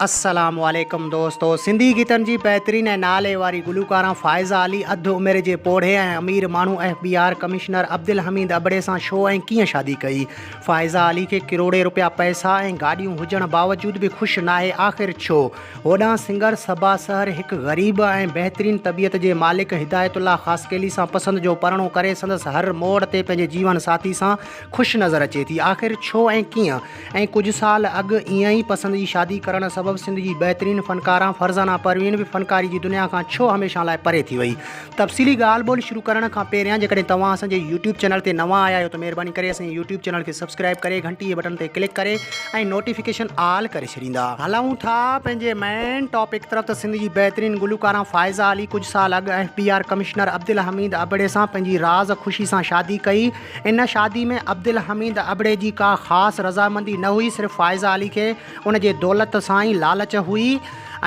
السلام عليڪم دوستو سنڌي گيتن جي بهترين ۽ نالي واري گلوڪارا فائزه علي اڌ عمر جي پوڙهي ۽ امير ماڻهو F B R commissioner Abdul Hamid ابڙي سان ڇو ۽ ڪيئن شادي ڪئي فائزه علي کي ڪروڙين رپيا پئسا ۽ گاڏيون هجڻ باوجود به خوش ناهي آخر ڇو هوڏانهن سنگر صبا سحر هڪ غريب ۽ بهترين طبيعت جي مالڪ هدايت الله خاصخيلي سان پسند جو پرڻو ڪري سندس هر موڙ تي پنهنجي جيون ساٿي سان خوش نظر اچي ٿي آخر ڇو ۽ ڪيئن ۽ ڪجهه سال اڳ ايئن ئي پسند جي شادي ڪرڻ سبب سنڌ جي بهترين فنڪاره فرزانه پروين به فنڪاري جي دنيا کان ڇو هميشه لاء پري ٿي وئي. تفصيلي ڳالهه ٻولهه شروع ڪرڻ کان پهريان جيڪڏهن توهان اسان جي يوٽيوب چينل تي نوان آيا آهيو ته مهرباني ڪري اسان جي يوٽيوب چينل کي سبسڪرائيب ڪري گهنٽي جي بٽڻ تي ڪلڪ ڪري ۽ نوٽيفڪيشن آل ڪري ڇڏيندا. هلون ٿا پنهنجي مين ٽاپڪ طرف ته سنڌ جي بهترين گلوڪاره فائزه علي ڪجهه سال اڳ F B R commissioner Abdul Hamid ابڙي سان پنهنجي راز خوشي سان شادي ڪئي، ان شادي ۾ عبدالحميد ابڙي جي ڪا خاص رضامندي نه هئي، صرف فائزه علي کي ان جي دولت سان ئي لالچ هئي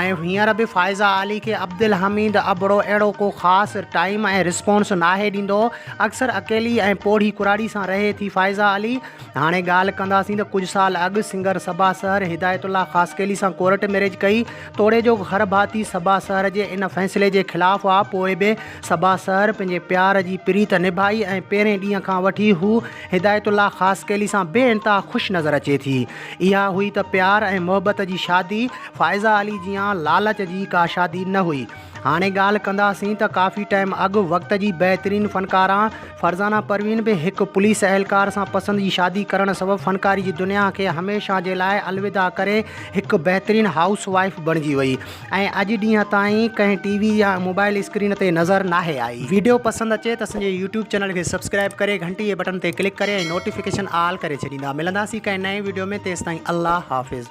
۽ هينئر به فائزه علي کي عبدالحميد ابڙو اهڙو ڪو خاص ٽائيم ۽ رسپانس ناهي ڏيندو. اڪثر اڪيلي ۽ پوڙهي ڪراڙي سان رهي ٿي فائزه علي. هاڻي ڳالهه ڪنداسين ته ڪجهه سال اڳ سنگر صبا سحر هدايت الله خاصخيلي سان ڪورٽ ميريج ڪئي. توڙي جو گهرڀاتي صبا سحر جي ان فيصلي جي خلاف هئا، پوء به صبا سحر پنهنجي پيار جي پريت نڀائي ۽ پهرين ڏينهن کان وٺي هو هدايت الله خاصخيلي سان بي انتها خوش نظر اچي ٿي. اها هئي ته پيار ۽ محبت جي شادي، فائزه علي جيان لالچ جي ڪا شادي نه هئي. هاڻي ڳالهه ڪنداسين ته ڪافي ٽائيم اڳ وقت جي بهترين فنڪاره فرزانه پروين به هڪ پوليس اهلڪار سان پسند جي شادي ڪرڻ سبب فنڪاري جي دنيا کي هميشه جي لاء الوداع ڪري هڪ بهترين هائوس وائيف بڻجي وئي. ۽ اڄ ڏينهن تائين ڪنهن ٽي وي يا موبائل اسڪرين تي نظر ناهي آئي. ويڊيو پسند اچي ته اسان جي يوٽيوب چينل کي سبسڪرائب ڪري گهنٽي جي بٽن تي ڪلڪ ڪري ۽ نوٽيفڪيشن آل ڪري ڇڏيندا. ملنداسين ڪنهن نئين ويڊيو ۾ تيستائين الله حافظ.